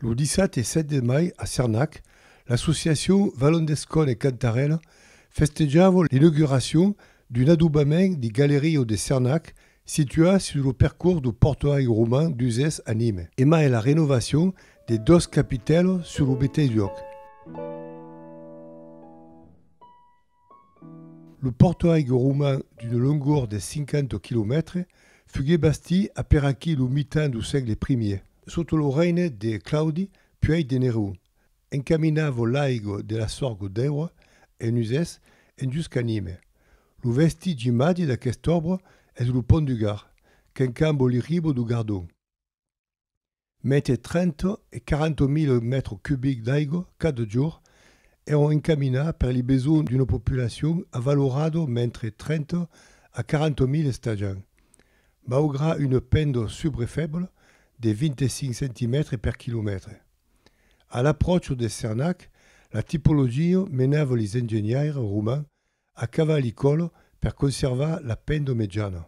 Lo 17 e 7 de mai a Cernac, l'associacion Valon d'Escòne e Cantarèla festejava l'inauguracion d'un adobament de Galerio de Cernac situat sus lo percors do portuari roman d'Uzès a Nime e mai la renovacion de dos capitèls sus lo meteis luòc. Lo pòrtoaigue roman d'una longor de 50 quilomètres fugué bastit aperaquí lo mitan do sègle primier, sota lo règne de Claudi puèi de Nerón, encaminava l'aigo de la sorgo dèura en usès en dus canime. Lo vestigi màger d'aquesta òbra es lo pont du Gard, qu'encambo l'irribo do Gardon. Mete 30 e 40 mile mètres cubics d'aigua cada jorn èron encaminats per li besonh d'una populacion avalorada mentre 30 a 40 mile estajan, maugrat una penda subre febla de 25 centimètres per quilomètre. A l'apròcha de Cernac, la tipologia menava li engenhaires romans a cavalh i còla per conservar la penda mejana.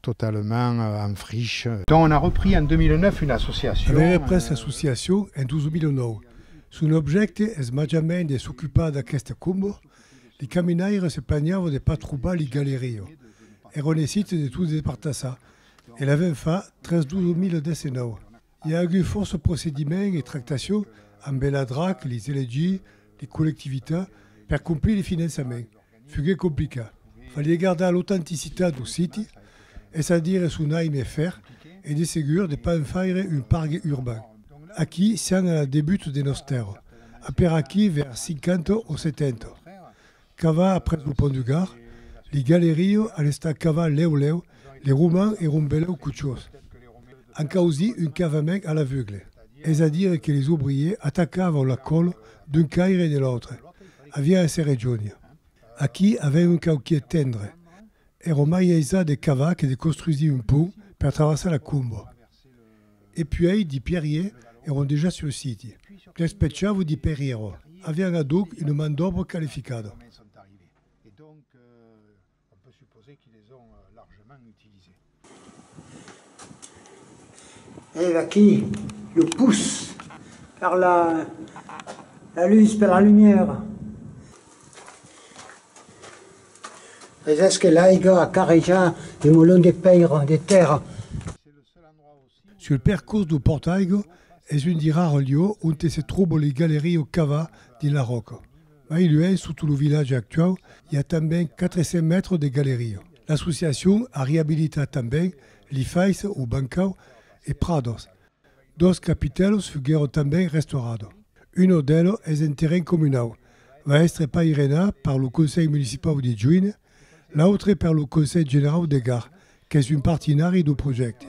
totalament en friche. Donc on a repris en 2009 una associacion. Avèm représ l'associacion en 2009. Son objècte es màjament de s'ocupar d'aqueste combo, li caminaires se plagnavan de pas trobar li galerio. Èron essits de tot despartassar e l'avèm fach tres 2019. I a agut fòrça procediments e tractacion ambe la drac, li CLG, li collectivitat per complir li finançament. Fuguet complicat. Falie gardar l'autenticitat do siti, es a dire son aime e fer, e de segur de pas en faire un pargue urbain. Aquí sian a la debut de nos tèrra, aperaquí vers 50 o 70. Cava après lo pont du Gard, li galerio a l'estar cava lèu lèu li roman e rombelèu cuchós. An causí un cavament a l'aveugle, es a dire que les obriers atacavau la còlo d'un caire e de l'autre, aviá èsser regionia. Aquí avèm un cauquier tendre, ero mai aisat de cavar que de costrusir un pont per traversar la Combo. E puèi de Pierrier èron dejà sul siti. Despechavo de Perriero, avián adoc una man d'òbra qualificada. Ave aquí lo pus per la lutz, per la lumièra. Aisés que l'aiga a carrejar de molon de pèira, de tèrra. Sul percors lo Portaigo es un di rars lieu onte se tròbo li galerie o cava dins la ròca. Mai luènh sotto lo vilatge actuau i a tanben 400 mètres de galerie. L'associacion a reabilitat tanben li fais o bancau e prados Dos capitèlos foguèron tanben restaurados. Uno d'elos es en terren comunau, va èstre pairenat per lo Conselh Municipau de Juin, l'autre per lo Conselh Generau de Gard, qu'es un partinari dau projècte.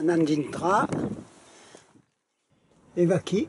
Anam dintrar. E vaquí.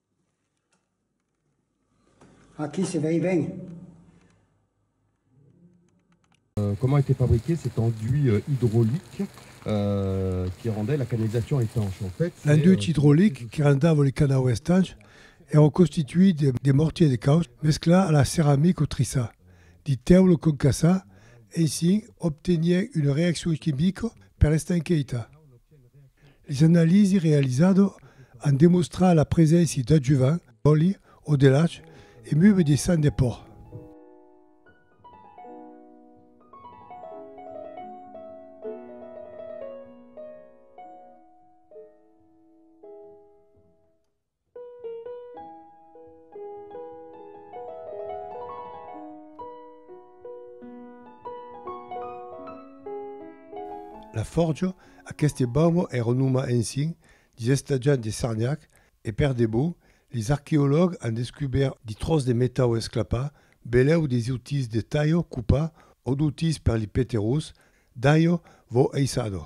Aquí se vei ben. Comment était fabriqué cet enduit hydraulique qui rendait la canalisation étanche? L'enduit hydraulique qui rendava le canau estanch èra constituit de mortier de caus mesclat a la ceramic o trissa de tèula concassa, ensin obtenien una reaccion chimica per estanqueita. Las analisis realizado an demostrat la preséncia d'adjuvant, d'òli o de lach e meuve de sang de pòrc. La Fòrja, aqueste baumo è renomat ensin dins estatjat de Sarniac e per de bon, les arqueològs an descubèrt de tròç de metau esclapat, belèu des outils de talho, cupar, o d'outils per li peterós, d'alho vò eissado.